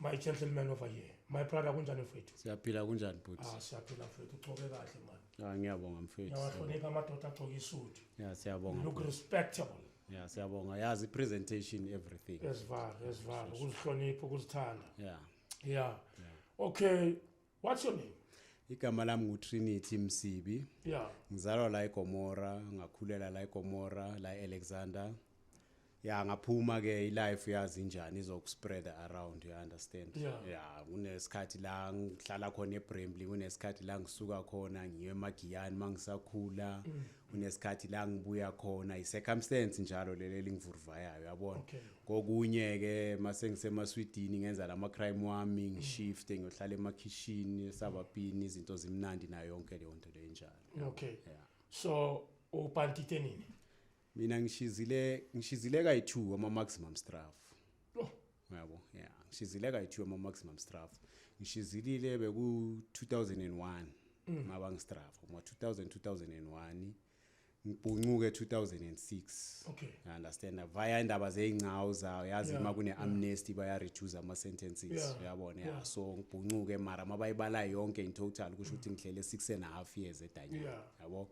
my gentleman over here my brother kunjani mfethu siyaphila kunjani bhuti ah siyaphila mfethu ugcoke kahle mani ah ngiyabonga mfethu ngiyawahlonipha amadoda agcoke isudu yeah siyabonga look respectable yeah siyabonga yazi presentation everything esivala esivala ukuzihlonipha ukuzithanda yeah yeah okay What's your name? Igama lami nguTrinity Msibi. Yeah. Ngizalwa la eGomora, ngakhulela la eGomora, la eAlexander. ya ngaphuma ke ilife yazi njani izokuspread around you understand yeah. ya kunesikhathi la ngihlala khona eBremley kunesikhathi la ngisuka khona ngiye emagiyani mangisakhula mm. unesikhathi la ngibuya khona i-circumstance njalo leli elingivuruvayayo yabona kokunye-ke uma sengisemaswidini ngenza la ma-crime wami mm. ngishifte ngiyohlala emakhishini esabapini izinto zimnandi nayo yonke leyo nto leyo enjalo okay yeah. so ubhantite nini mina ngishizile ngishizile kayi-two ama-maximum straff oh. Uyabo? Yeah. Ngishizile kayithiwe ama maximum straff. Ngishizilile beku 2001 mm. maba ngistraff uma 2000 2001 ngibhuncuke 2006 okay i understand via indaba zeincawu zawo yazi yeah, makune yeah. amnesty baya reduce ama sentences yeah, uyabona yeah. yeah. so ngibhuncuke mara mabayibala yonke in total kusho ukuthi mm. ngihlele 6 and a half years edanyana yabo yeah.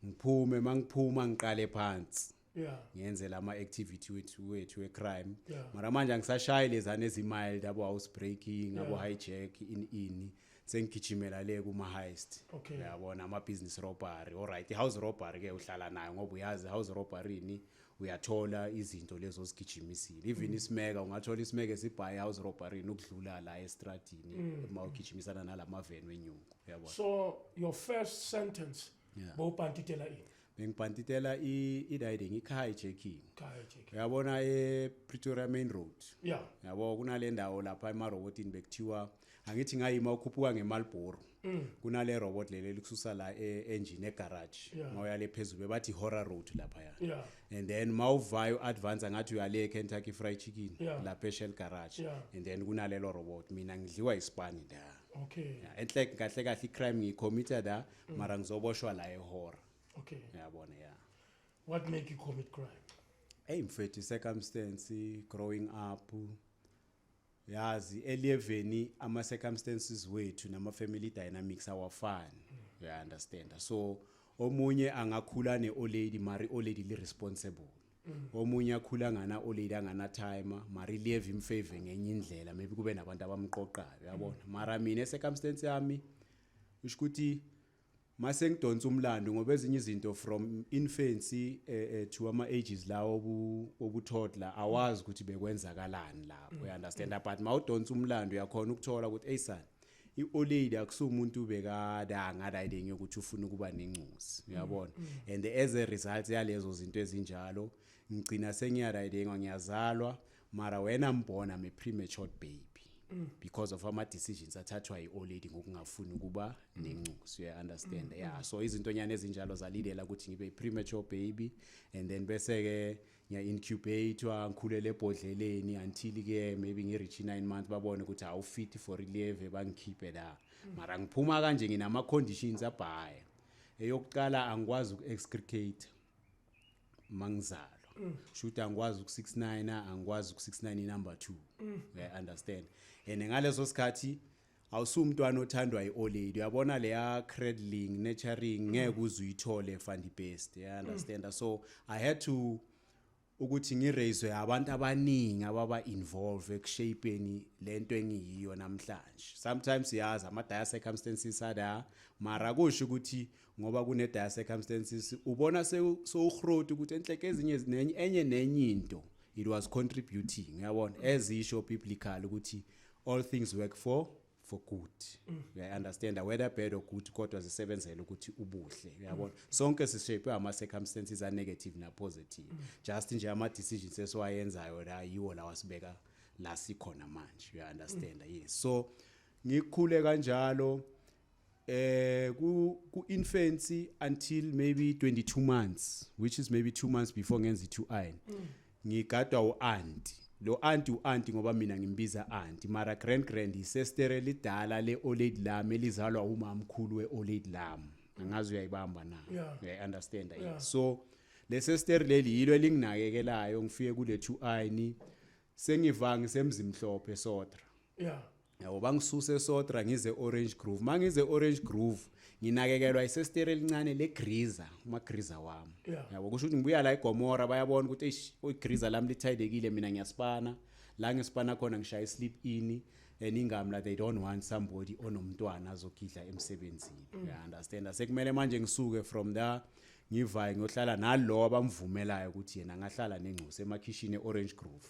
ngiphume mangiphuma ngiqale phansi yeah ngenze lama activity wethu wethu we crime yeah. mara manje angisashayi lezane ezimild abo house breaking yeah. abo hijack in in sengigijimela le kuma heist okay. yabona ama business robbery all right house robbery ke uhlala nayo ngoba uyazi house robbery ni uyathola izinto lezo ozigijimisile even mm. isimeka ungathola isimeka esibhaye house robbery nokudlula la estradini mm. uma ugijimisana nalama van wenyungu yabona so your first sentence yeah. bowupantitela ini bengipantitela i-riding i-carjacking uyabona e-pretoria main road yeah. yabo kunale ndawo lapha emarobotini bekuthiwa angithi ngayima ukhuphuka ngemalboro mm. kunale robot leli elikususa la e-engine egarage yeah. mawuya le phezulu bebathi horror road laphaya yeah. and then mawuvayo u-advance angathi uyale e-kentucky fried chicken yeah. lapha eshell garage yeah. and then kunalelo robot mina ngidliwa isipani nda okay. yeah. enhle kahle kahle i-crime ngiyicommitter da mm. mara ngizoboshwa la ehora okay uyabona yeah what make you commit crime hey mfethu circumstance growing up yazi eliyeveni ama circumstances wethu nama family dynamics awafani mm. uya understand so omunye angakhula ne old lady mari old lady li responsible mm. omunye akhula ngana old lady angana timer mari live in favor ngenye indlela maybe kube nabantu abamqoqayo yabona mm. mara mina circumstance yami usho ukuthi mase ngidonsa umlando ngoba ezinye izinto from infancy eh, eh, to ama ages lawo obu- obuthodla awazi ukuthi bekwenzakalani lapho you understand but mawudonsa umlando uyakhona ukuthola ukuthi hey son i-old lady akusumuntu bekadanga riding yokuthi ufuna ukuba nencuzi uyabona and as a result yalezo zinto ezinjalo ngigcina sengiyaridingwa ngiyazalwa mara when i'm born i'm a premature baby mm. because of ama decisions athathwa yi old lady ngokungafuni ukuba nencuso you understand mm. yeah so izinto nyane ezinjalo zalidela ukuthi ngibe premature baby and then bese ke ngiya incubate wa ngikhulele ebhodleleni until ke maybe ngi reach 9 months babone ukuthi awu fit for relieve bangikhiphe la mm. mara ngiphuma kanje nginama conditions abhaya eyokuqala angikwazi uku excrete mangizalwa mm. shuthi angikwazi uku69 angikwazi uku69 number 2 mm. yeah, understand and ngaleso sikhathi awusumntwana othandwa iolady uyabona leya cradling nurturing ngeke mm. uzuyithole fandi best yeah, understand mm. so i had to ukuthi ngireyizwe abantu abaningi ababa involve ekushapeni lento engiyiyo namhlanje sometimes yazi ama dire circumstances ada mara kusho ukuthi ngoba kune dire circumstances ubona sewuhroti ukuthi enhleke ezinye nenye enye nenye into it was contributing uyabona ezisho biblically ukuthi all things work for for good uyaunderstanda whether bad or good kodwa zisebenzela ukuthi ubuhle uyabona sonke sishape ama circumstances a negative na positive just nje ama decisions esiwayenzayo la yiwo lawa sibeka la sikhona manje uyaunderstanda yes so ngikhule kanjalo eh ku ku infancy until maybe 22 months which is maybe 2 months before ngenza i2 iron ngigadwa uanti lo anti uanti ngoba mina ngimbiza anti mara grand grand isestere lidala le oled lami elizalwa umamkhulu we oled lami angazi uyayibamba na yeah. uyayi understand yeah. yeah. so lesestere leli yilo elinginakekelayo ngifike kule 2 iron sengivangi semzimhlophe sotra yeah Yabo bangisusa eSotra ngize eOrange Grove. Mangize eOrange Grove nginakekelwa isestere elincane legriza, umagriza wami. Yeah. Yabo kusho ukuthi ngibuya la eGomora bayabona ukuthi eish igriza lami lithayidekile mina ngiyasipana. La ngisipana khona ngishaya isleep in and ingamla they don't want somebody onomntwana azogidla emsebenzini. Yeah, understand. Asekumele manje ngisuke from there ngivaye ngiyohlala nalowo abamvumelayo ukuthi yena ngahlala nengcusa emakhishini eOrange Grove.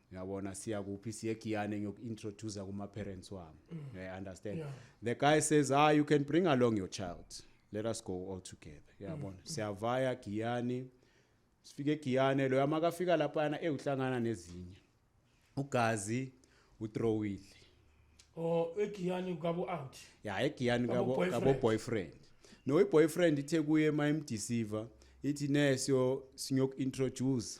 yabona siya kuphi siye egiyane ngiyoku-introducer kuma-parents wami mm. i understand yeah. the guy says ah you can bring along your child let us go all together yabona mm. siyavaya giyani sifike egiyane loyo amakafika laphayana ewuhlangana nezinye ugazi utrowile oh egiyani kabo out ya egiyani kabo kabo boyfriend no iboyfriend ithe kuye mayimdeceiver ithi ne siyo sinyoku introduce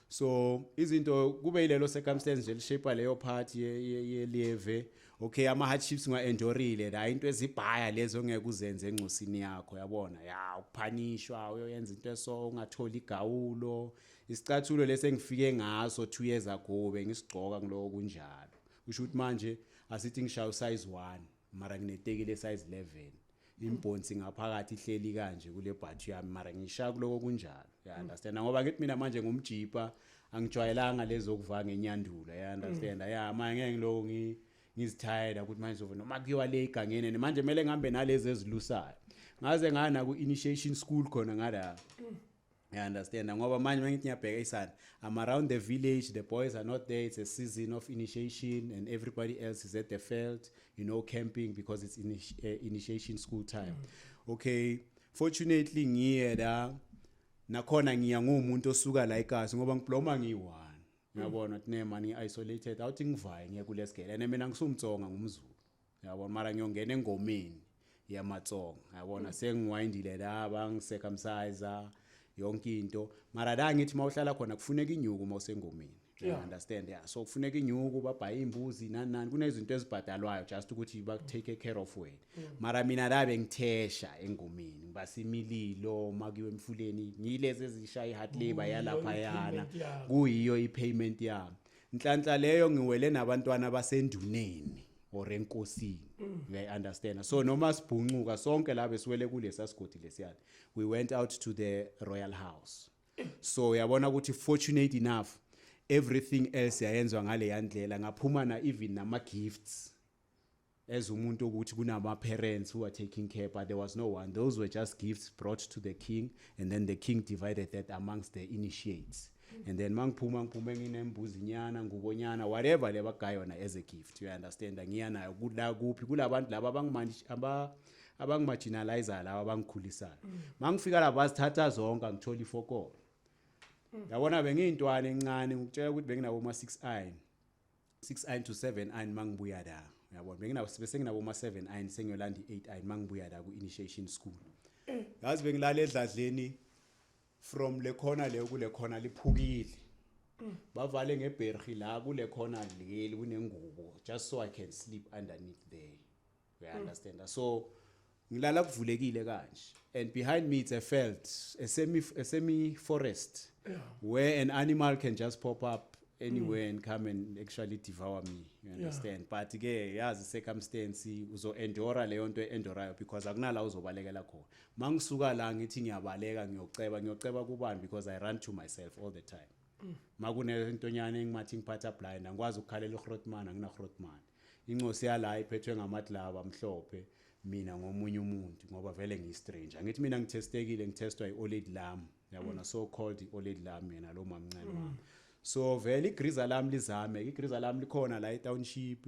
so izinto kube yilelo circumstance nje lishape leyo part yelieve okay ama hardships nga endurile la into ezibhaya lezo ngeke uzenze encosini yakho yabona ya ukuphanishwa uyoyenza into eso ungatholi igawulo isicathulo lesengifike ngaso 2 years ago bengisigcoka ngilowo kunjalo usho ukuthi manje asithi ngishaya usize 1 mara ngineteki le size 11 imbhonsi ngaphakathi ihleli kanje kule bhathu yami mara ngishaya kuloko kunjalo ya understand ngoba kithi mina manje ngumjipa angijwayelanga lezokuvanga enyandula ya understand ya manje ngeke ngiloko ngi ngizithayela ukuthi manje zova noma kuyiwa le igangene ne manje kumele ngihambe nalezi ezilusayo ngaze ngana ku-initiation school khona ngala I understand ngoba manje mangithi ngiyabheka isana I'm around the village the boys are not there it's a season of initiation and everybody else is at the field you know camping because it's initi uh, initiation school time mm. okay fortunately ngiye la nakhona ngiya ngumuntu osuka la eKasi ngoba ngibloma ngiyi-one uyabona mm. tine mani ngi-isolated awuthi ngivaye ngiye kulesigele and mina ngisumtsonga ngumzulu yabona mara ngiyongena engomeni yamatsonga yabona mm. sengiwayindile la bangisecumcise yonke into mara la ngithi uma uhlala khona kufuneka inyuku uma usengomeni yeah. understand yeah so kufuneka inyuku babhaye imbuzi nani nani kunezinto ezibhadalwayo just ukuthi ba take care of wena mm. mara mina la bengithesha engomeni ngibasimililo makiwe emfuleni ngilezi ezisha iheart labor yalapha yana kuyiyo ipayment yami nhlanhla leyo ngiwele nabantwana basenduneni or enkosini mm. uyayi understand so noma sibhuncuka sonke la besiwele kulesa sigodi lesiyana we went out to the royal house so uyabona ukuthi fortunate enough everything else yayenzwa ngale yandlela ngaphuma na even nama gifts as umuntu ukuthi kunama parents who are taking care but there was no one those were just gifts brought to the king and then the king divided that amongst the initiates and then mangiphuma ngiphume nginembuzi nyana ngubo nyana whatever le bagaya yona as a gift you understand ngiya nayo kula kuphi kulabantu laba abangimanje aba abangimajinalizer laba abangikhulisayo mangifika lapha bazithatha zonke angithola ifokolo yabona bengiyintwana encane ngikutshela ukuthi benginabo ma 6 iron 6 iron to 7 iron mangibuya la yabona benginabo bese nginabo ma 7 iron sengiyolanda i8 iron mangibuya la ku initiation school ngazi bengilala edladleni from le khona leyo kule khona liphukile bavale ngebherhi la kule khona leli kunengubo just so i can sleep underneath there we understand mm. so ngilala kuvulekile kanje and behind me it's a felt a semi a semi forest yeah. where an animal can just pop up anywhere mm. and come and actually devour me you understand yeah. but ke yazi circumstance uzo endora leyo nto endorayo because akunala uzobalekela khona mangisuka la ngithi ngiyabaleka ngiyoceba ngiyoceba kubani because i run to myself all the time mm. makunentonyana engimathi ngiphatha blind angikwazi ukukhalela uhrotman anginarhrotman incosi yala iphethwe ngamatlaba amhlophe mina ngomunye umuntu ngoba vele ngiyistranger ngithi mina ngithestekile ngithestwa i-oled lam yabona mm. so called i-oled lam yena lo mamncane wami mm. so vele igriza lami lizame igriza lami likhona la etownship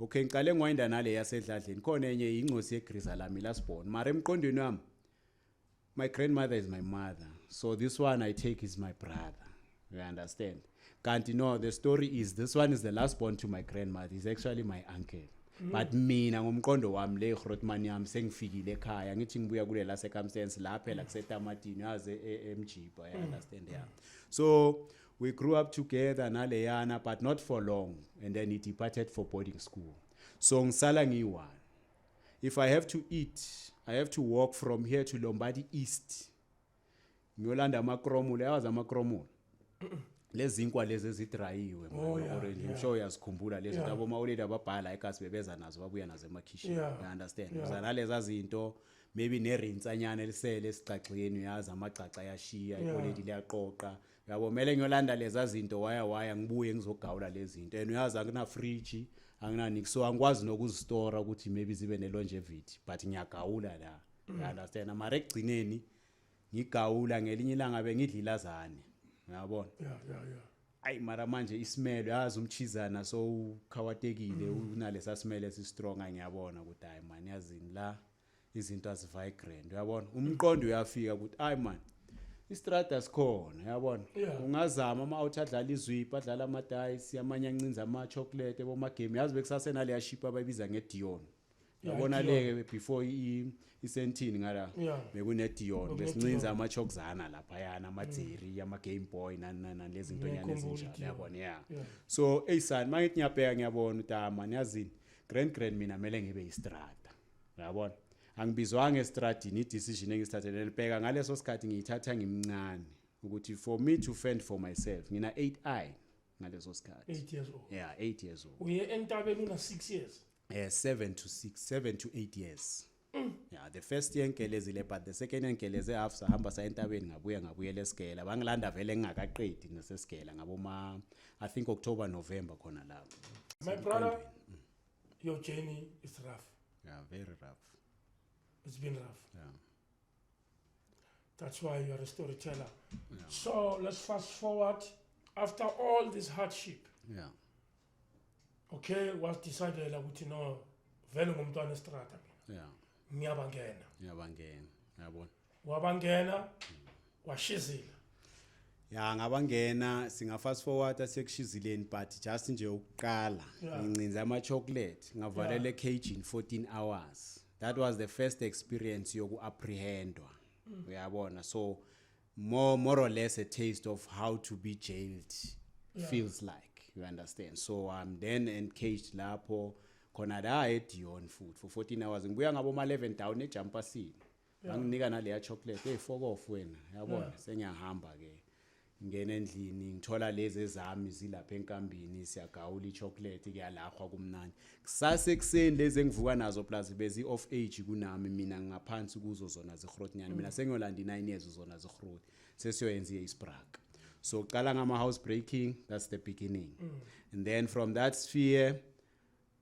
okay ngiqale ngiwayinda nale yasedladleni khona enye yingcosi yegriza lami last born mara emqondweni wami my grandmother is my mother so this one i take is my brother you understand kanti no the story is this one is the last born to my grandmother is actually my uncle mm. but mina ngomqondo wami le grotman yami sengifikile ekhaya ngithi ngibuya kule la circumstance la phela kusetamatini yaze e, emjiba you mm. understand yeah so mm. We grew up together naleyana but not for long and then he departed for boarding school. So ngisala ngiyi-one. If I have to eat, I have to walk from here to Lombardy East. Ngiyolanda amakromula, yawazi amakromula. lezinkwa lezi ezidrayiwe oh, orange i'm sure uyazikhumbula lezi labo mawuleli ababhala ekasi bebeza nazo babuya nazo emakhishini you understand uzanaleza zinto maybe nerintsanyana elisele esigcagxeni uyazi amagcagxa ayashiya ikoledi liyaqoqa yabo mele ngiyolanda leza zinto waya waya ngibuye ngizogawula lezi zinto and uyazi angina fridge angina nix so angikwazi nokuzistora ukuthi maybe zibe ne longevity but ngiyagawula la mm. you understand mara ekugcineni ngigawula ngelinye ilanga bengidlilazane uyabona yeah yeah yeah ayi mara manje isimelo yazi umchizana so ukhawatekile mm. unalesa simelo esistrong ngiyabona ukuthi hayi mani yazini la izinto azivigrant uyabona umqondo uyafika ukuthi ayi man istrada sikhona uyabona ungazama ama out adlala izwipa adlala ama dice amanye ancinza ama chocolate boma game yazi bekusase naleya ship abayibiza nge Dion yabona leke before i isentini ngala bekune Dion besincinza ama chokzana lapha yana ama Jerry mm. ama Game Boy nani nani lezi zinto nyane ezinjalo yabona yeah so eyisani manje ngiyabheka ngiyabona utama niyazini grand grand mina mele ngibe istrada uyabona angibizwanga estradini i-decision engisithathele nelibheka ngaleso sikhathi ngiyithatha ngimncane ukuthi for me to fend for myself ngina 8 i ngaleso sikhathi 8 years old yeah 8 years old uye entabeni una 6 years eh 7 to 6 7 to 8 years mm. yeah the first year ngigelezile but the second year ngigeleze half sahamba sa entabeni ngabuya ngabuyela esigela bangilanda vele ngingakaqedi nesesigela ngabo ma i think october november khona lapho my brother mm. your journey is rough yeah very rough it's been rough yeah that's why you're a storyteller yeah. so let's fast forward after all this hardship yeah okay was decided ukuthi no vele ngumntwana estrata mina yeah ngiyabangena ngiyabangena yabona wabangena washizila ya ngabangena singa fast forward asekushizileni but just nje ukuqala ngincinza ama chocolate ngavalele cage in 14 hours that was the first experience yoku apprehendwa mm. uyabona so more more or less a taste of how to be jailed yeah. feels like you understand so i'm then encaged lapho khona la edion futhi for 14 hours ngibuya ngabo ma 11 down ejumpasini banginika naleya chocolate hey fokof wena yabona sengiyahamba ke ngena endlini ngithola lezi ezami zilapha enkambini siyagawula ichocolate kuyalahwa kumnandi kusase kuseni lezi engivuka nazo plus bezi off age kunami mina ngingaphansi kuzo zona zihrotnyana mina sengiyolanda 9 years zona zihrot sesiyoyenza isbrak so qala ngama house breaking that's the beginning mm. and then from that sphere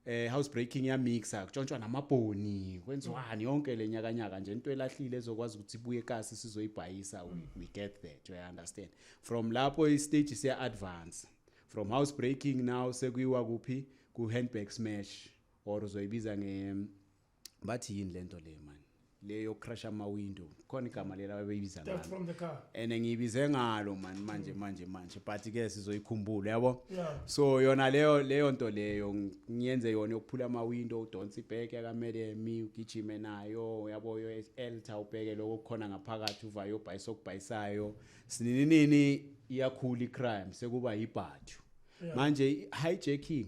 eh house breaking ya mixa kutshontshwa namabhoni kwenziwani yonke lenyakanyaka nje into elahlile ezokwazi ukuthi ibuye kasi sizoyibhayisa we, we get that you understand from lapho i stage siya advance from house breaking now sekuyiwa kuphi ku handbag smash or uzoyibiza nge bathi yini lento le man leyo crash ama window khona igama lela babeyibiza Theft ngalo from the car. and ngiyibize ngalo man manje manje manje but ke sizoyikhumbula yabo Yeah. so yona leyo leyo nto leyo ng- ngiyenze yona yokuphula ama window udonsa ibheke akamele mi ugijime nayo uyabo yo elta ubheke lokho kukhona ngaphakathi uvayo ubhayisa okubhayisayo sinininini iyakhula icrime sekuba yibhathu manje i- hijacking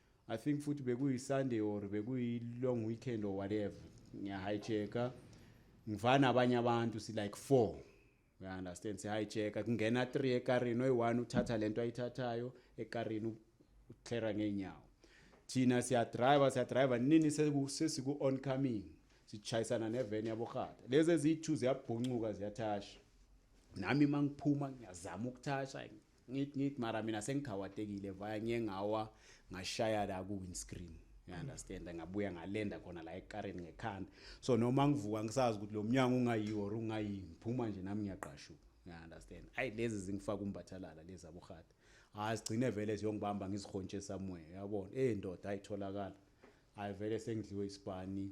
I think futhi bekuyi-Sunday or bekuyi-long weekend or whatever. Ngiya-hijacker. Ngiva nabanye abantu si-like four. Uya-understand? Si-hijacker. Kungena three ekarini. Oyi-one uthatha le nto ayithathayo ekarini uklera ngey'nyawo. Thina siyadriver, siyadriver. Nini seku- sesiku-on coming. Sishayisana neveni yaborhata. Lezi eziyi-two ziyabhuncuka ziyathasha. Nami uma ngiphuma ngiyazama ukuthasha. ngit ngit mara mina sengikhawatekile vaya ngiye ngawa ngashaya la ku windscreen you understand ngabuya ngalenda khona la ekareni ngekhanda so noma ngivuka ngisazi ukuthi lo mnyango ungayiwo or ungayini ngiphuma nje nami ngiyaqashuka you understand ayi lezi zingifaka umbathalala lezi abuhata azigcine ah, vele ziyongibamba ngizihontshe somewhere yabona eh ndoda ayitholakala ayivele sengidliwe isibani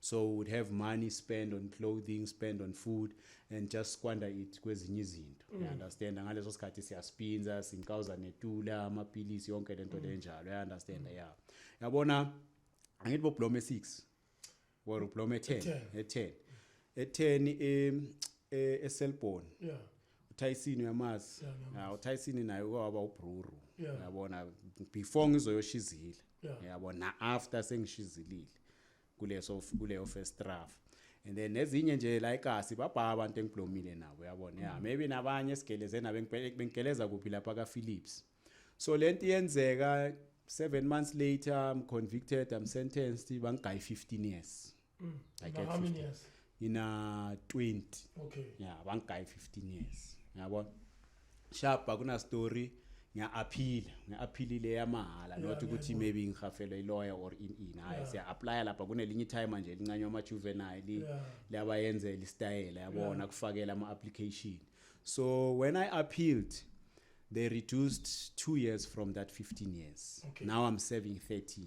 so would have money spend on clothing spend on food and just squander it kwezinye izinto mm. understand ngaleso sikhathi siyaspinza sinkawuza netula amapilisi yonke lento mm. lenjalo i understand mm. yeah yabona angithi bo blome 6 or blome 10 e10 e10 em e, eselbon yeah uTyson uyamazi yeah uTyson naye kwaba ubruru yabona before ngizoyoshizile yabona after sengishizilile kuleso kuleyo first rough and then nezinye nje la ikasi babha abantu engiblomile nabo yabona yeah mm. maybe nabanye sigeleze nabo bengigeleza kuphi lapha ka Philips so lento iyenzeka 7 months later i'm convicted i'm sentenced bangigaya 15 years mm. i get 15 years ngina 20 okay yeah bangigaye 15 years yabona shapa kuna story ngiya-aphila ngi-aphilile yamahhala not ukuthi maybe ngihafelwe iloya or in in hayi siya-aplya lapha kunelinye itime nje elincanywa ama-juvenile liyabayenzela isitayela yabona kufakela ama-application so when i appealed they reduced two years from that 15 years okay. now i'm serving 13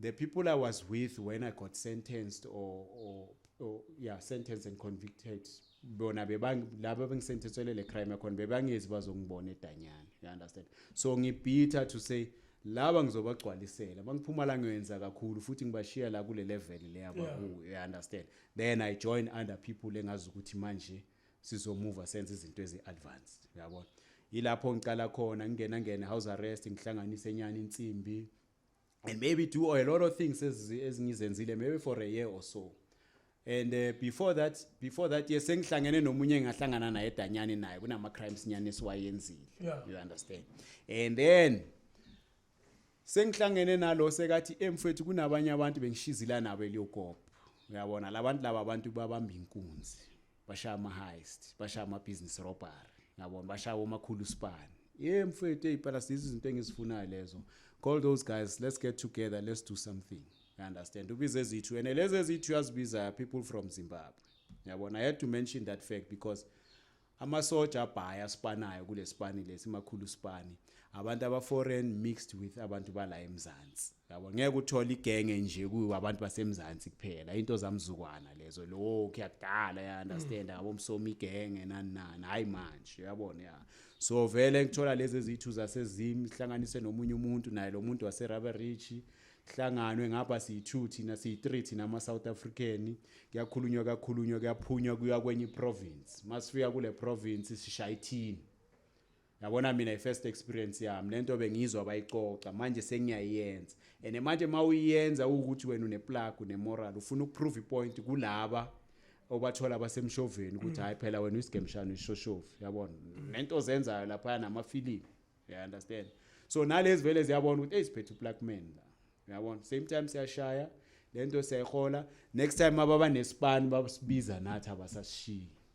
The people I was with when I got sentenced or, or, or yeah, sentenced and convicted bona laba bengisenthethwele le crime yakhona bebangezi bazongibona edanyana you understand so ngibhitha to say laba ngizobagcwalisela bangiphuma la ngiyenza kakhulu futhi ngibashiya la kule level le abakuyo you understand then i join under people engazi ukuthi manje sizomuva senze izinto ezi-advanced uyabona yilapho ngiqala khona ngingena ngena house arrest ngihlanganise nyani insimbi and maybe do a lot of things ezingizenzile maybe for a year or so and uh, before that before that yes sengihlangene nomunye engahlangana naye edanyane naye kunama crimes nyane siwayenzile yeah. you understand and then sengihlangene nalo sekathi emfethu kunabanye abantu bengishizila nabo eliyogogo uyabona labantu laba abantu babamba inkunzi bashaya ama-heist bashaya ama-business robbery ngabona bashaya omakhulu span ye mfethu ey'pela sizo izinto engizifunayo lezo call those guys let's get together let's do something you understand ubize ezithu and lezi ezithu uyazibiza people from zimbabwe yabona i had to mention that fact because amasoja abhaya asipanayo kule sipani lesi makhulu sipani abantu abaforeign mixed with abantu bala emzansi yabo ngeke uthole igenge nje kuyo abantu basemzansi kuphela into zamzukwana lezo lo kuyadala ya understand mm. abo msomi igenge nani nani hayi manje uyabona ya so vele ngithola lezi ezithu zasezimi hlanganise nomunye umuntu naye lo muntu wase Rubber Ridge hlanganwe ngapha siyi-2 thina siyi-3 thina ama-south african kuyakhulunywa kakhulunywa kuyaphunywa kuya kwenye iprovince masifika kule province sishaya ithini yabona mina i-first experience yami lento bengizwa bayixoxa manje sengiyayenza and manje uma uyenza ukuthi wena uneplug unemoral ufuna ukuprove ipoint kulaba obathola basemshoveni ukuthi hayi phela wena uyisigembishana uyishoshovu yabona nento ozenzayo laphaya namafilimu you understand so nalezi vele ziyabona ukuthi eyisiphethe uplug man la yabona same time siyashaya lento siyayihola next time ababa nespan babasibiza nathi abasashiyi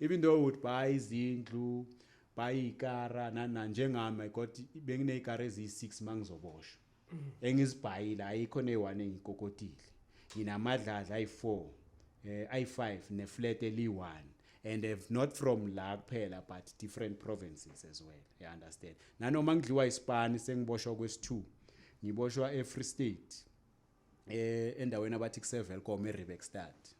even though would buy izindlu buy ikara nana njengami i got benginezikara eziyi6 mangizoboshwa mm. engizibhayile ayikho neyi1 engikokotile nginamadlaza ayi4 eh ayi5 neflat eli1 and if not from la kuphela but different provinces as well you understand nanoma ngidliwa isipani sengiboshwa kwesi2 ngiboshwa eFree State eh endaweni abathi kusevelcom eRibexstad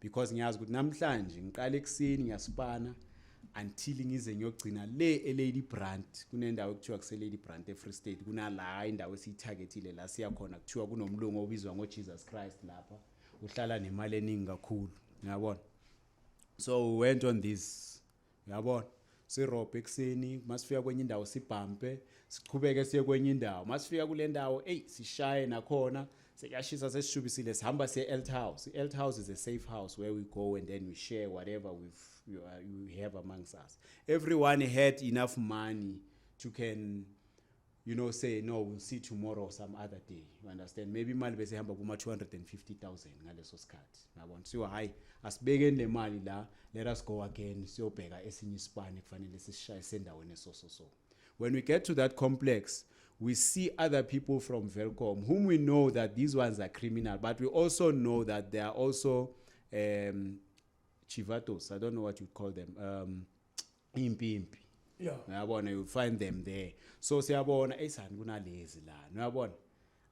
because ngiyazi ukuthi namhlanje ngiqala ekuseni ngiyasipana until ngize ngiyogcina le eLady Brandt kunendawo ekuthiwa kuse Lady Brandt eFree State kunala indawo esiyitargetile la siya khona kuthiwa kunomlungu obizwa ngoJesus Christ lapha uhlala nemali eningi kakhulu ngiyabona so we went on this Uyabona? Sirobhe ekuseni, masifika kwenye indawo sibhampe, siqhubeke siye kwenye indawo. Masifika kule ndawo, eyi sishaye nakhona, sekuyashisa sesishubisile sihamba siye e-Elt House. I-Elt House is a safe house where we go and then we share whatever we've, you, uh, you have amongst us. Everyone had enough money to can you know say no we'll see tomorrow or some other day you understand maybe imali bese ihamba kuma 250000 ngaleso sikhathi ngabona so hayi asibekeni le mali la let us go again siyobheka esinye isibani kufanele sisishaye sendaweni esoso so when we get to that complex we see other people from Velcom whom we know that these ones are criminal but we also know that they are also um chivatos i don't know what you call them um impimpi yeah uyabona you find them there so siyabona eyisani kunalezi la uyabona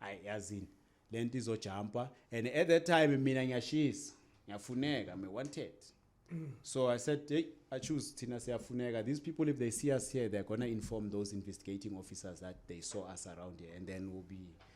ay yazini lento izojumpa and at that time mina ngiyashisa ngiyafuneka me wanted so i said hey i choose thina siyafuneka these people if they see us here they're going to inform those investigating officers that they saw us around here and then we'll be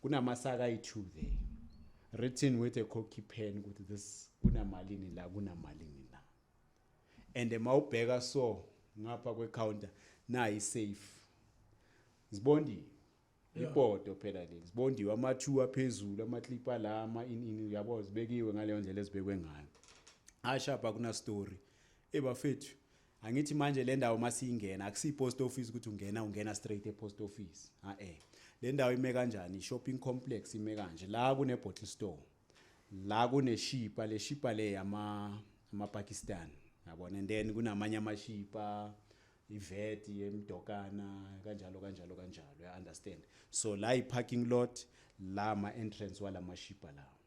kunamasaka ayi-two there written with a cocky pen ukuthi this kunamalini la kunamalini la and uma ubheka so ngapha kwecounter nayi safe zibondiwe ipoto phela leli zibondiwe ama-two aphezulu amaklipa la ama-inini uyabo zibekiwe ngaleyo ndlela ezibekwe ngayo ashapha kunastory ebafethu Angithi manje le ndawo uma siyingena akusiyi-post office ukuthi ungena ungena straight e-post office a-e le ndawo ime kanjani i-shopping complex ime kanje la kune-bottle store la kuneshipa le shipa le yama-pakistan yabona and then kunamanye amashipa iveti yemdokana kanjalo kanjalo kanjalo ya-understand so la yi-parking lot la ma-entrance wala mashipa lawo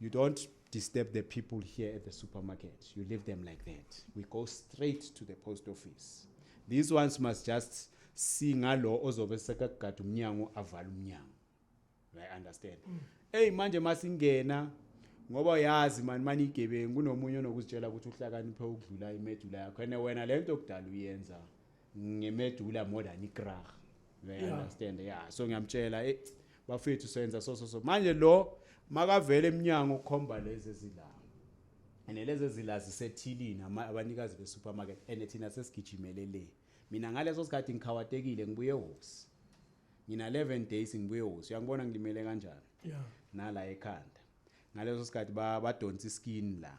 You don't disturb the people here at the supermarket. You leave them like that. We go straight to the post office. These ones must just see ngalo ozobe sekagada umnyango avala umnyango. I understand. Mm. Hey manje masingena ngoba uyazi mani mani igebengu kunomunye onokuzitshela ukuthi uhlakaniphe ukudlula imedula yakho and wena lento okudala uyenza ngimedula more than ikrah you yeah. understand yeah so ngiyamtshela eh bafethu senza so so so manje lo makavele eminyango ukhomba lezi ezila and lezi ezila zisethilini abanikazi be supermarket and thina sesigijimele le mina ngaleso sikhathi ngikhawatekile ngibuye hosi ngina 11 days ngibuye hosi uyangibona ngilimele kanjani yeah nala ekhanda ngaleso sikhathi badonsa iskin la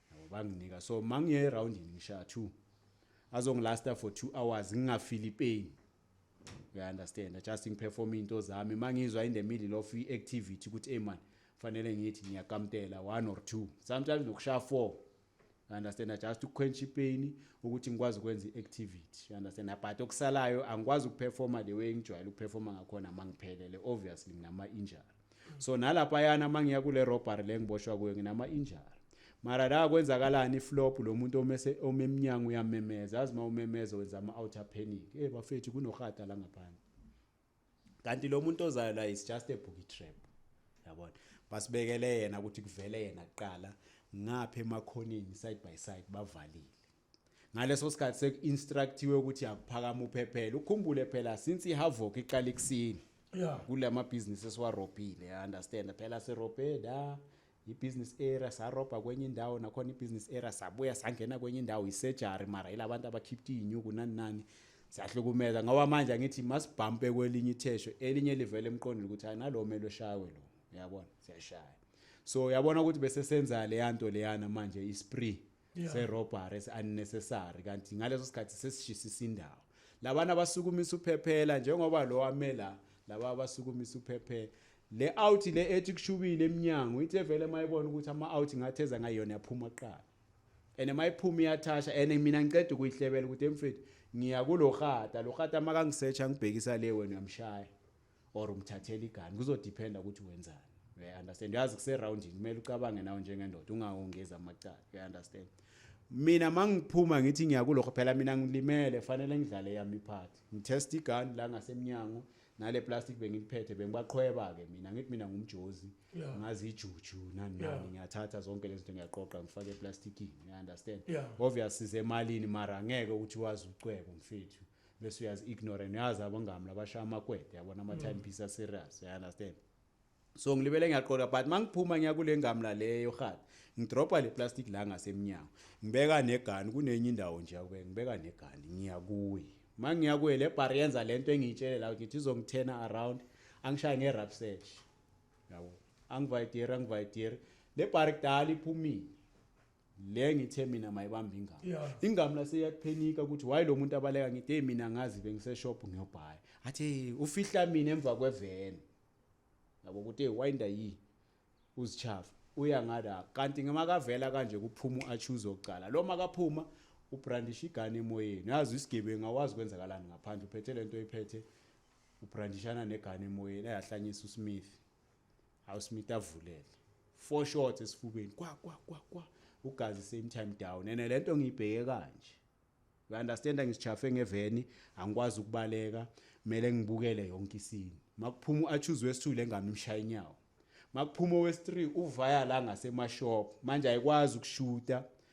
yabo banginika so mangiye eroundini ngishaya two azongilasta for two hours ngingafili pain uyaunderstanda just ngiperforme into zami uma ngizwa in the middle of i-activity ukuthi eyi mani kufanele ngithi ngiyakamtela one or two sometimes nokushaya four understand just ukukhwentsha ipain ukuthi ngikwazi ukwenza i-activity understand but okusalayo angikwazi ukuperforma the way engijwayele ukuperforma ngakhona uma ngiphelele obviously nginama-injury so nalaphayana uma ngiya kule robbery le ngiboshwa kuyo nginama-injury mara la kwenzakalani iflop lo muntu omese omemnyango uyamemeza yazi uma umemeza wenza ama-outer panic e bafethu kunorhata la ngaphandle kanti lo muntu ozayo la is just a bookie trap yabona basibekele yena ukuthi kuvele yena kuqala ngapha emakhoneni side by side bavalile ngaleso sikhathi seku-instructiwe ukuthi akuphakama uphephele ukhumbule phela since i-havoc iqala ekusini yeah. kula mabhizinisi esiwarobhile understand phela sirobhe la i-business area sarobha kwenye indawo nakhona i-business area sabuya sangena kwenye indawo isejari mara yila bantu abakhipta iy'nyuku nani nani siyahlukumeza ngoba manje angithi masibhampe kwelinye ithesho elinye livele emqondini ukuthi hayi nalo mele eshawe lo uyabona siyashaya so uyabona ukuthi bese senza leya nto leyana manje ispree yeah. se robbery se unnecessary kanti ngaleso sikhathi sesishisisa indawo labana abasukumisa uphephela njengoba lo wamela laba abasukumisa uphephela le out le ethi kushubile eminyango ithe vele mayibona ukuthi ama out ngatheza ngayona yaphuma kuqala ene mayiphuma iyathasha ene mina ngiceda ukuyihlebela ukuthi emfethu ngiya kulo rhata lo rhata makangisearch angibhekisa le wena uyamshaya or umthathela igani kuzodependa ukuthi wenzani uya understand uyazi kuseroundini kumele ucabange nawe njengendoda ungawongezi amacala uya understand mina mangiphuma ngithi ngiyakulokho phela mina ngilimele fanele ngidlale yami part ngitest igun la ngasemnyango nale plastic bengiliphethe bengibaqhweba ke mina ngithi mina ngumjozi ngazi ijuju nani nani ngiyathatha zonke lezinto ngiyaqoqa ngifake eplasticini you understand obvious size emalini mara ngeke ukuthi wazi ucwebo mfethu bese uyazi ignorant uyazi abangami labashaya amakwede yabona ama time piece a serious you understand so ngilibele ngiyaqola but mangiphuma ngiya kule ngamla leyo khathi ngidropa le plastic la ngasemnyango ngibeka negani kunenye indawo nje yakube ngibeka negani ngiya kuyi mangiya kuye le bar yenza lento engiyitshele la ukuthi izongithena around angishaye nge rap search yabo angivayidiri angivayidiri le bar kudala iphumile le ngithe mina mayibamba ingama yeah. ingama lase iyaphenika ukuthi why lo muntu abaleka ngithi hey mina ngazi bengise shop ngiyobhaya athi hey ufihla mina emva kweveni yabo ukuthi hey wayinda yi uzichafa uya ngala kanti ngemakavela kanje kuphuma uachuze oqala lo makaphuma ubrandisha igane emoyeni yazi isigebengu awazi kwenzakalani ngaphandle uphethe lento oyiphethe ubrandishana negane emoyeni eyahlanyisa usmith Hawu Smith avulele. Four shots esifubeni. Kwa kwa kwa kwa. Ugazi same time down. Ene lento ngiyibheke kanje. You understand ngischafe ngeveni, angikwazi ukubaleka, mele ngibukele yonke isini. Makuphuma uAchuzwe wesithule ngami imshaya inyawo. Makuphuma owes3 uvaya la ngasemashop. Manje ayikwazi ukushuta.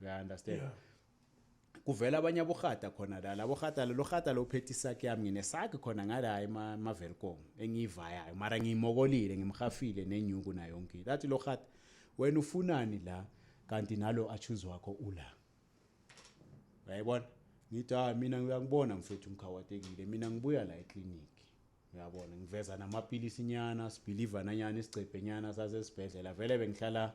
uya understand yeah. kuvela abanye abohata khona la labo hata lo hata lo phethe isakhe yami nginesakhe khona ngala ema mavelcom engivayayo mara ngimokolile ngimhafile nenyuku na yonke lathi lo hata wena ufunani la kanti nalo achuze wakho ula uyayibona ngithi ah mina ngiyakubona mfethu mkhawatekile mina ngibuya la eclinic uyabona ngiveza namapilisi nyana sibelieve nanyana isigcebhe nyana sasesibhedlela vele bengihlala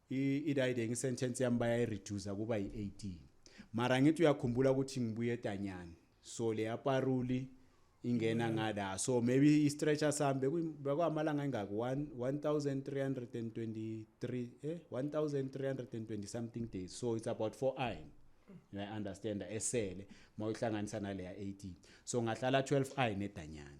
i-riding sentence yami bayayireducer kuba yi-18 mara ngithi uyakhumbula ukuthi ngibuye etanyani so leya paruli ingena mm. ngala so maybe i-stretcher sami bekwamalanga engaki 1323 eh 1320 something days so it's about 4 i I understand esele mawuhlanganisa naleya 18 so ngahlala 12 i nedanyana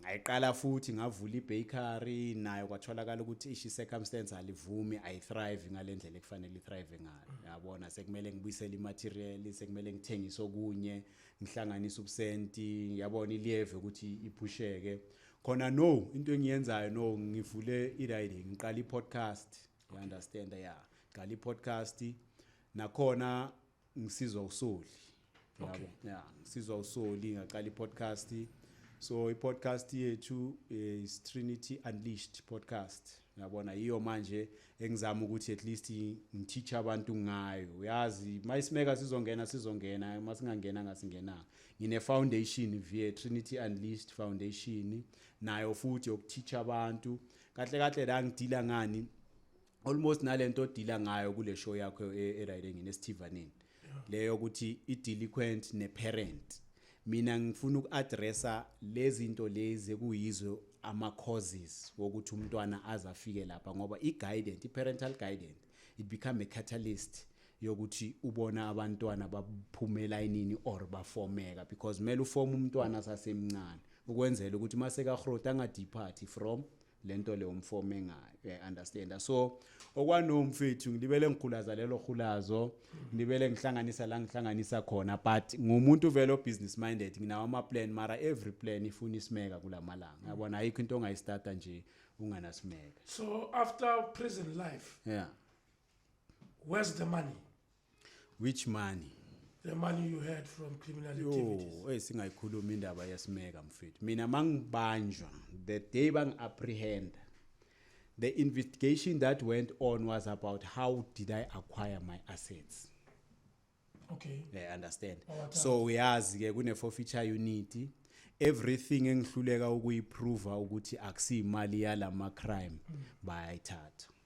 Ngayiqala futhi ngavula ibakery nayo kwatholakala ukuthi ishi circumstance alivumi I thrive ngalendlela ekufanele ithrive ngayo. Yabona sekumele ngibuyisele imaterial, sekumele ngithengise okunye, ngihlanganise ubusenti, yabona iliyeve ukuthi iphusheke. Khona no into engiyenzayo no ngivule iriding, ngiqala ipodcast. You understand? Yeah. Ngiqala ipodcast nakhona ngisizwa usoli okay yeah ngisizwa usoli ngaqala i-podcast so i-podcast yethu eh, is Trinity Unleashed podcast ngiyabona yiyo manje engizama ukuthi at least ngiteach abantu ngayo uyazi mayisimeka sizongena sizongena masingangena ngasingena ngine foundation via Trinity Unleashed Foundation nayo futhi yokuteach abantu kahle kahle la ngidila ngani almost nalento odila ngayo kule show yakho eRide engine esithivaneni leyo ukuthi idelinquent neparent mina ngifuna ukuaddressa lezinto lezi kuyizo ama causes wokuthi umntwana azafike lapha ngoba i guidance i parental guidance it become a catalyst yokuthi ubona abantwana baphumela inini or bafomeka because kumele ufome umntwana sasemncane ukwenzela ukuthi maseka growth angadepart from lento le umfo mengayo i understand so okwano mfethu ngilibele ngikhulaza lelo khulazo ngilibele ngihlanganisa la ngihlanganisa khona but ngumuntu vele o business minded nginawo ama plan mara every plan ifuna isimeka kulamalanga yabona ayikho into ongayistarta nje unganasimeka so after prison life yeah where's the money which money the money you had from criminal activities hey singayikhuluma indaba yasimeka mfethu mina mangibanjwa the day bangiapprehend the investigation that went on was about how did i acquire my assets okay yeah understand oh, so uyazi ke kune forfeiture unit everything engihluleka ukuyiprova ukuthi akusiyimali yalama crime mm. bayayithatha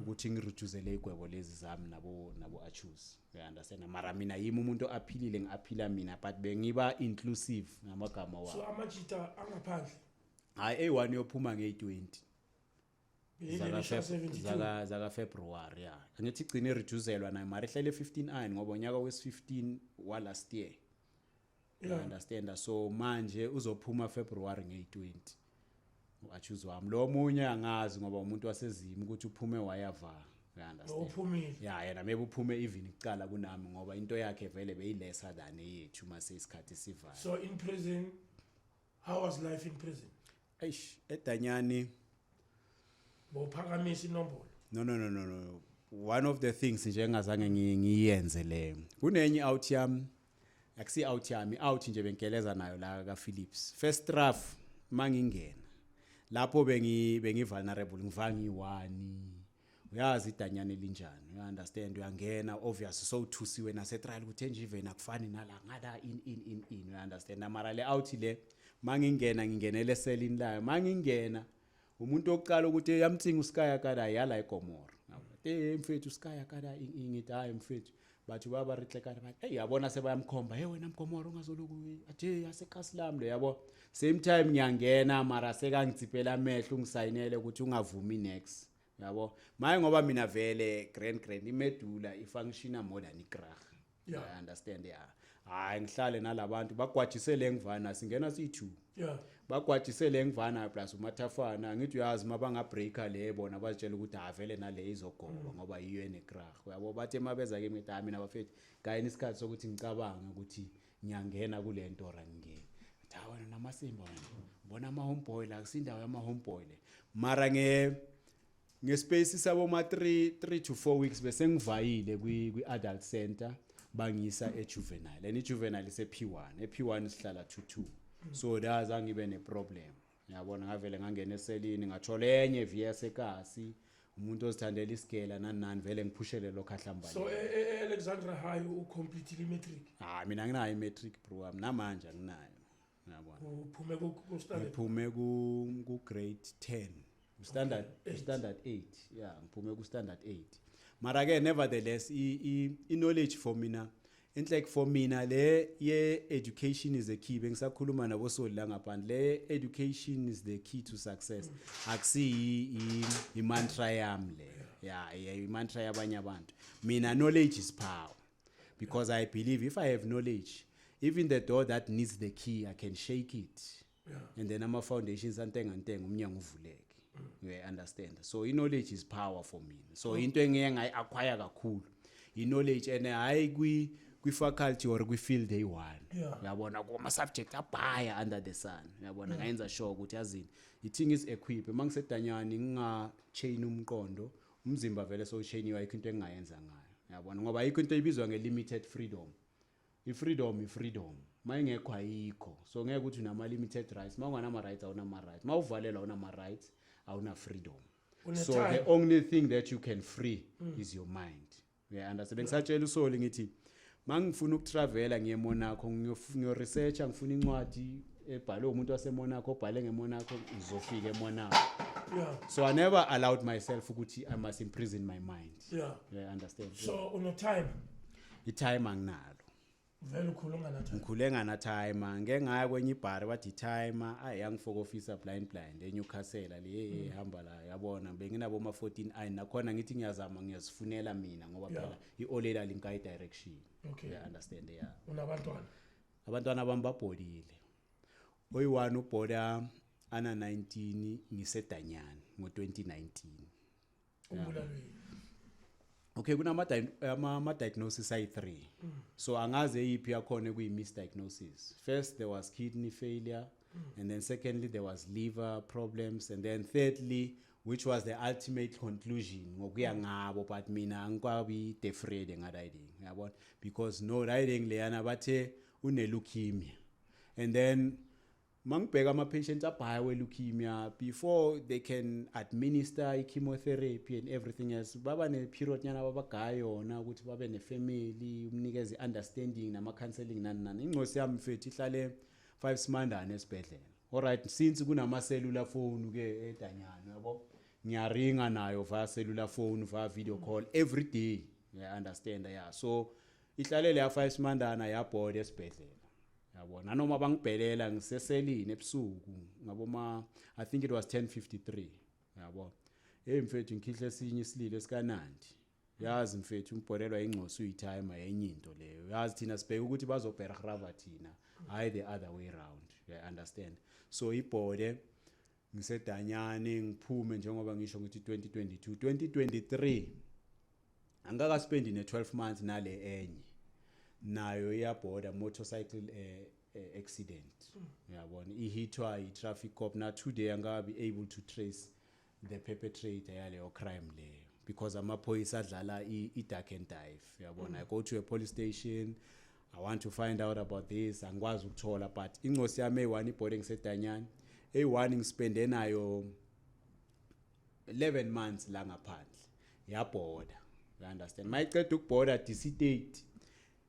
ukuthi ngirejuzele igwebo lezi zami nabo nabo achuse you understand mara mina yimi umuntu aphilile ngiaphila mina but bengiba inclusive ngamagama wa so amajita angaphandle hayi eyi-one yophuma ngeyi-20 zaka zaka February ya angithi igcine reducelwa nayo mara ihlele 15 iron ngoba unyaka wes 15 wa last year yeah. you understand so manje uzophuma February nge20 uachuze wami lo munye angazi ngoba umuntu wasezimu ukuthi uphume wayava you understand uphumile yeah yena maybe uphume even icala kunami ngoba into yakhe vele beyilesa than eyethu mase isikhathi sivala so in prison how was life in prison eish edanyani bophakamisa inombolo no no no no no one of the things nje engazange ngi- ngiyenze le kunenye out yami akusi out yami out nje bengigeleza nayo la ka Philips first rough mangingena lapho bengi bengi vulnerable ngiva ngiwani uyazi idanyana elinjani you understand uyangena obvious so uthusiwe nase trial ukuthi enje even akufani nala ngala in in in in you understand amara le out le mangingena ngingenele selini layo mangingena umuntu oqala ukuthi yamthinga uskaya kada yala igomora te mfethu uskaya kada ngithi hayi mfethu bathi baba ritlekane bathi hey yabona sebayamkhomba hey wena mgomoro ungazoloku athe yasekasi lami le yabo same time ngiyangena mara sekangidzipela amehlo ungisayinele ukuthi ungavumi next yabo maye ngoba mina vele grand grand imedula ifunctiona more than igrah yeah. i understand yeah hayi ngihlale nalabantu bagwajise le ngivana singena siyi-two yeah. bagwajise le ngivana plus umathafana angithi uyazi uma bangabreaker le bona bazitshela ukuthi avele nale izogoba mm. ngoba yiyo enekrah uyabo bathe uma beza kimi ngithi hayi mina bafethu kayini isikhathi sokuthi ngicabange ukuthi ngiyangena kule nto or angingeni hayi wena namasimba wena ubona ama-homeboy la kusindawo yama-homeboy le mara nge ngespace saboma 3 3 to 4 weeks bese ngivayile kwi kwi adult center bangisa e juvenile and i juvenile ise P1 e P1 sihlala 2 2 so that's angibe ne problem yabona ngavele ngangena eselini ngathola enye VS ekasi umuntu ozithandela isigela nani nani vele ngiphushele lokho ahlambane so e- e- e- alexandra high ucompletile imatric hayi mina nginayo imatric bro wami namanje anginayo ngiyabona uphume ku ku standard ngiphume ku ku grade 10 standard Eight. standard 8 yeah ngiphume ku standard 8 mara ke nevertheless i i- i knowledge for mina enhle like for mina le ye education is the key bengisakhuluma nabo soli la ngaphandle le education is the key to success akusiyi i- i mantra yami le yeah yeah i mantra yabanye abantu mina knowledge is power because i believe if i have knowledge even the door that needs the key i can shake it yeah. and then ama-foundations antenga ntenga umnyango uvuleke mm. you understand so i-knowledge is power for me so mm. into engeke ngayi-acquire kakhulu i-knowledge and hhayi kwi kwi-faculty or kwi-field eyi-one uyabona yeah. kuma-subject abhaya under the sun uyabona yeah. ngayenza sure ukuthi yazini i-thing is equip uma ngisedanyane nginga-chain umqondo Umzimba vele sowusheniwe ayikho into engingayenza ngayo. Uyabona ngoba ayikho into ebizwa nge limited freedom. I freedom i freedom. Mayingekho ayikho. So ngeke ukuthi unama limited rights. Mawunganama rights awunama rights. Mawuvalelwa awunama rights awuna freedom. So the only thing that you can free mm. is your mind. Ngiyaunderstand bengisatshela usoli ngithi mangifuna ukutravela ngiye Monaco ngiyo research ngifuna incwadi ebhalwe umuntu waseMonaco obhale ngeMonaco ngizofika eMonaco yeah so i never allowed myself ukuthi i must imprison my mind yeah yeah understand so uno time i time anginalo vele ukhule unganathayi ngikhule nganathaima ngeke ngaya kwenye ibhari bathi ithaima ayi yangifoko officer blind blind eNewcastle le hey mm. hamba la yabona benginabo ma 14 ayi nakhona ngithi ngiyazama ngiyazifunela mina ngoba phela iolela linkayi direction okay i understand yeah unabantwana abantwana bami babholile oyiwani ubhola ana 19 ngisedanyana ngo 2019 ubulalweni okay kunama ama diagnosis ayi 3 mm. so angazi eyiphi yakhona kuyi misdiagnosis first there was kidney failure mm. and then secondly there was liver problems and then thirdly which was the ultimate conclusion ngokuya mm. ngabo but mina angikwabi defrede nga riding yabona because no riding leyana bathe une leukemia and then mangibheka ama patients abhaya we leukemia before they can administer i chemotherapy and everything else baba ne period nyana babagaya yona ukuthi babe ne family umnikeze understanding nama counseling nani nani ingcosi yami mfethu ihlale 5 simandane esibhedlela alright since kunama cellular phone ke edanyana yabo ngiyaringa nayo via cellular phone via video call every day yeah understand yeah so ihlalele yafa isimandana yabhoda esibhedlela yabo nanoma bangibhelela ngiseselini ebusuku ngabo ma i think it was 1053 yabo hey mfethu ngikhihle esinye isililo esikanandi yazi mfethu umbholelwa ingcosi uyitime yenye into leyo yazi thina sibheke ukuthi bazobherhrava thina hayi the other way round you understand so ibhode ngisedanyane ngiphume njengoba ngisho ngithi 2022 2023 angaka spend ne 12 months nale enye nayo iyabhoda motorcycle eh, eh accident uyabona mm. ihithwa i traffic cop na today angabi able to trace the perpetrator yaleyo crime leyo because amaphoyisa adlala i dark and dive uyabona mm. i go to a police station I want to find out about this angikwazi ukuthola but incosi yami eyi-one ibhode ngisedanyane eyi-one ngispende nayo 11 months la ngaphandle yabhoda you understand mayiceda ukubhoda disitati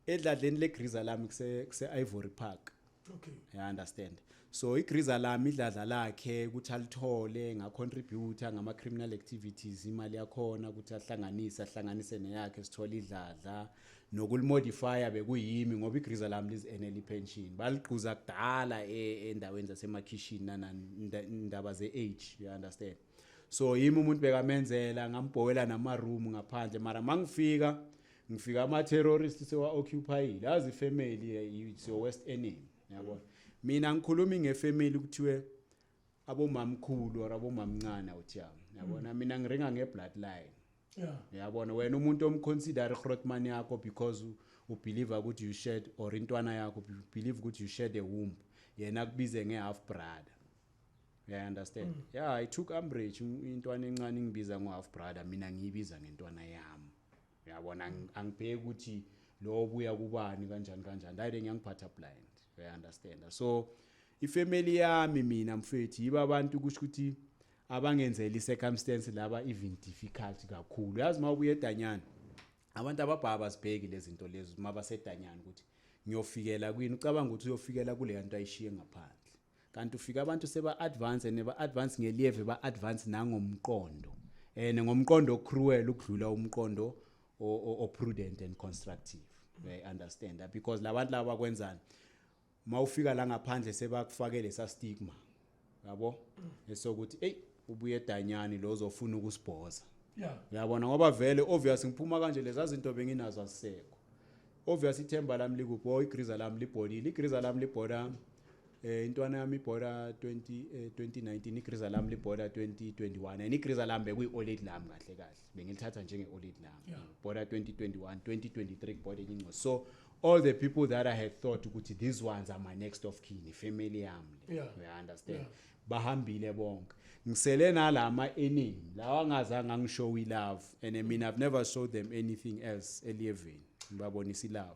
edladleni legriza lami kuse-ivory park okay yeah understand so igriza lami idladla lakhe ukuthi alithole nga contributor ngama criminal activities imali yakhona ukuthi ahlanganise ahlanganise neyakhe sithole idladla nokulimodifya bekuyimi ngoba igriza lami lizenele ipension baligquza kudala e, endaweni zasemakhishini nanandaba ze-age you understand so yimi umuntu bekamenzela ngambhowela namaroom ngaphandle mara mangifika ngifika ama terrorist sewa occupyile azi family eh, it's your worst enemy yabona mina ngikhuluma ngefamily kuthiwe abomamkhulu or abomamncane uthiyami yabona mm. mina ngiringa ngebloodline yabona wena umuntu omconsider igrotman yakho because ubelieve ukuthi you shared or intwana yakho believe ukuthi you shared a womb yena kubize ngehalf brother yeah, I understand mm. yeah i took umbrage intwana encane ingibiza ngo-half brother mina ngiyibiza ngentwana yami uyabona ang- angibheki ukuthi lo buya kubani kanjani kanjani hayi ngiyangiphatha blind uyaunderstanda so ifamily yami mina mfethu yiba abantu kusho ukuthi abangenzeli circumstance laba even difficult kakhulu yazi uma ubuye edanyana abantu ababhaka bazibheki lezi zinto lezi uma basedanyana ukuthi ngiyofikela kwini ucabanga ukuthi uyofikela kuleya nto ayishiye ngaphandle kanti ufika abantu seba advance and ba advance ngelieve ba advance nangomqondo eh ngomqondo ocruel ukudlula umqondo o prudent and constructive they understand that because labantu laba kwenzani mawufika la ngaphandle sebakufakele sa stigma yabo esokuthi hey ubuye danyani lo zofuna ukusibhoza yabona ngoba vele obvious ngiphuma kanje leza zinto benginazo asekho obvious ithemba lami likuphi oh igriza lami libholile igriza lami libhola eh intwana yami ibhola 20 eh, 2019 igriza lami libhola 2021 and igriza lami bekuyi oled lami kahle kahle bengilithatha njenge oled lami yeah. bhola 2021 2023 bhola elinco so all the people that i had thought ukuthi these ones are my next of kin ifamily yami le yeah. you understand yeah. bahambile bonke ngisele nalama eningi lawa ngazange ngishow i love and i mean i've never showed them anything else eliyevini ngibabonisa i love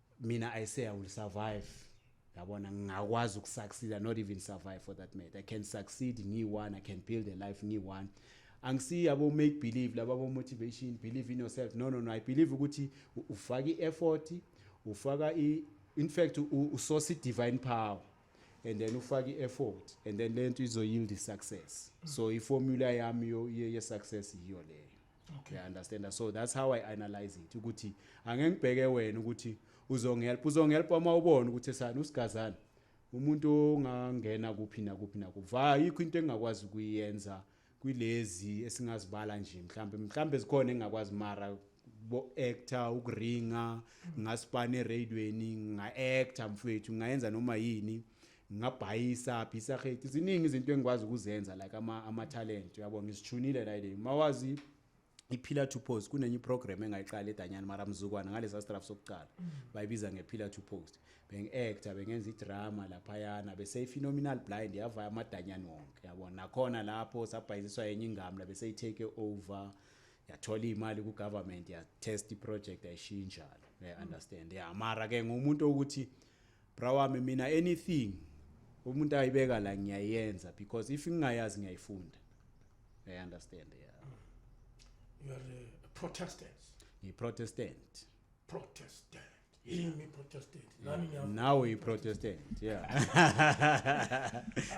mina i say i will survive yabona ngingakwazi ukusucceed not even survive for that matter i can succeed ngiyi-one i can build a life ngiyi-one angisiyi yabo make believe laba bo motivation believe in yourself no no no i believe ukuthi ufaka i-effort ufaka i in fact usosa i-divine power and then ufaka i-effort and then le nto izoyield i-success so i-formula yami ye-success yiyo leyo okay. yeah, understand so that's how i analyze it ukuthi angeke ngibheke wena ukuthi uzongihelp uzongihelp uma ubona ukuthi esani usigazana umuntu ongangena kuphi nakuphi nakuva ayikho into engakwazi ukuyenza kwilezi esingazibala nje mhlambe mhlambe zikhona engakwazi mara bo actor ukuringa ngasipane eradweni nga actor mfethu ngayenza noma yini ngingabhayisa bhisa khethi ziningi izinto engikwazi ukuzenza like ama ama talent uyabo ngizithunile la ile mawazi iphila to post kunenye iprogram engayiqala edanyana mara mzukwana ngalesa straff sokuqala mm. bayibiza ngephila to post bengi-actor bengenza idrama laphayana beseyi-phenomenal blind yavaya amadanyana wonke yabo nakhona lapho sabhayiziswa yenye ingamla beseyitake over yathola iy'mali ku-government yatest iproject yayishinjalo uyaunderstand ya mara-ke ngumuntu okuthi yeah, Bra wami mina anything umuntu ayibeka la ngiyayenza because if ngingayazi ngiyayifunda. I understand yeah. You are a Protestant. Ngi Protestant. Protestant. Yimi Protestant. Nami ngiyavu. Nawe you Protestant. Yeah.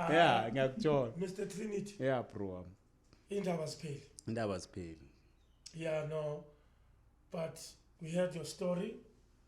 yeah, ngiyakuthola. Mr Trinity. Yeah bro wami. Indaba zipheli. Indaba zipheli. Yeah no. But we heard your story.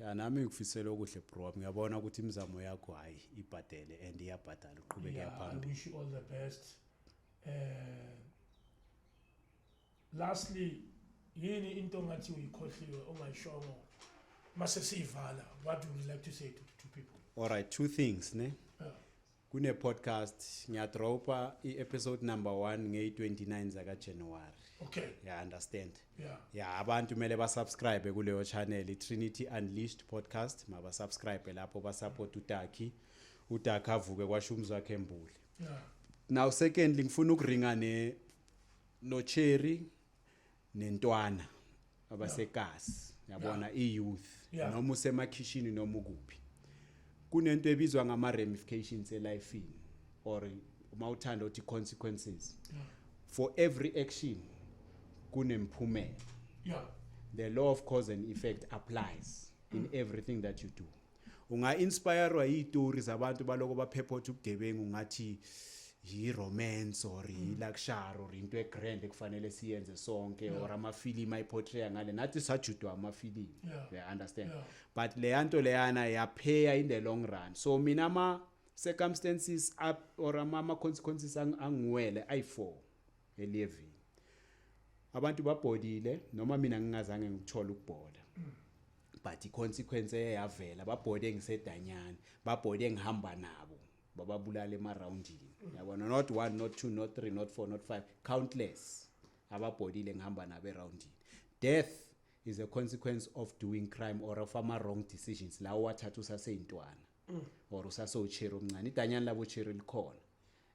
Ya nami ngikufisela okuhle bro wami ngiyabona ukuthi imizamo yakho hayi ibhadele and iyabhadala uqhubeke yeah, phambili. I wish you all the best. Eh Lastly yini into ngathi uyikhohliwe ongayishongo mase siyivala what would you like to say to, to people? All right two things ne. Yeah. Kune podcast ngiya dropa i episode number 1 ngey 29 zaka January. Okay. Yeah, understand. Yeah. Yeah, abantu mele ba subscribe kuleyo channel i Trinity Unleashed podcast, maba subscribe lapho ba support uTaki. UTaki avuke kwasho umzi wakhe embuli. Yeah. Now secondly ngifuna ukuringa ne no Cherry nentwana abasekasi yabona iyouth Yeah. noma usemakhishini noma ukuphi kunento ebizwa ngama ramifications elifeini or uma uthanda uthi consequences for every action kunemphumela yeah the law of cause and effect applies in everything that you do unga-inspirwa yitori zabantu baloko baphephotha ubugebengu ngathi yi-romance or yi-luxury or into e-grand ekufanele siyenze sonke or amafilimu ayiportraya ngale nathi sajudwa amafilimu Yeah. yeah. understand Yeah. but leya nto leyana yapheya in the long run so mina ama-circumstances up or ama- ama-consequences ang- angiwele ayi-four eliyevini abantu babhodile noma mina ngingazange ngikuthole ukubhola but i-consequence eye yavela babhode engisedanyane babhode engihamba nabo bababulala emarawundini yabona not one not two not three not four not five countless ababhodile engihamba nabo erawundini death is a consequence of doing crime or of ama-wrong decisions lawo wathatha usaseyintwana or usasowucheri omncane idanyana labo cheri likhona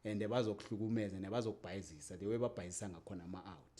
and bazokuhlukumeza nebazokubhayizisa the way babhayizisa ngakhona ama-out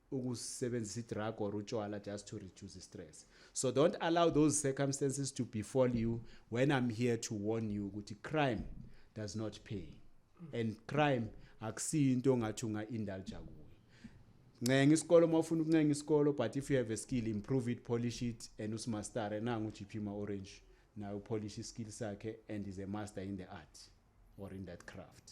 ukusebenzisa idrug or utshwala just to reduce istress so don't allow those circumstances to befall you when i'm here to warn you ukuthi crime does not pay and crime akusiyo into ongathi unga-indulja kuyo ncenga isikolo uma ufuna ukuncenga isikolo but if you have a skill improve it polish it and usimastare nangu ugp ma-orange naye upolish iskill sakhe and is a master in the art or in that craft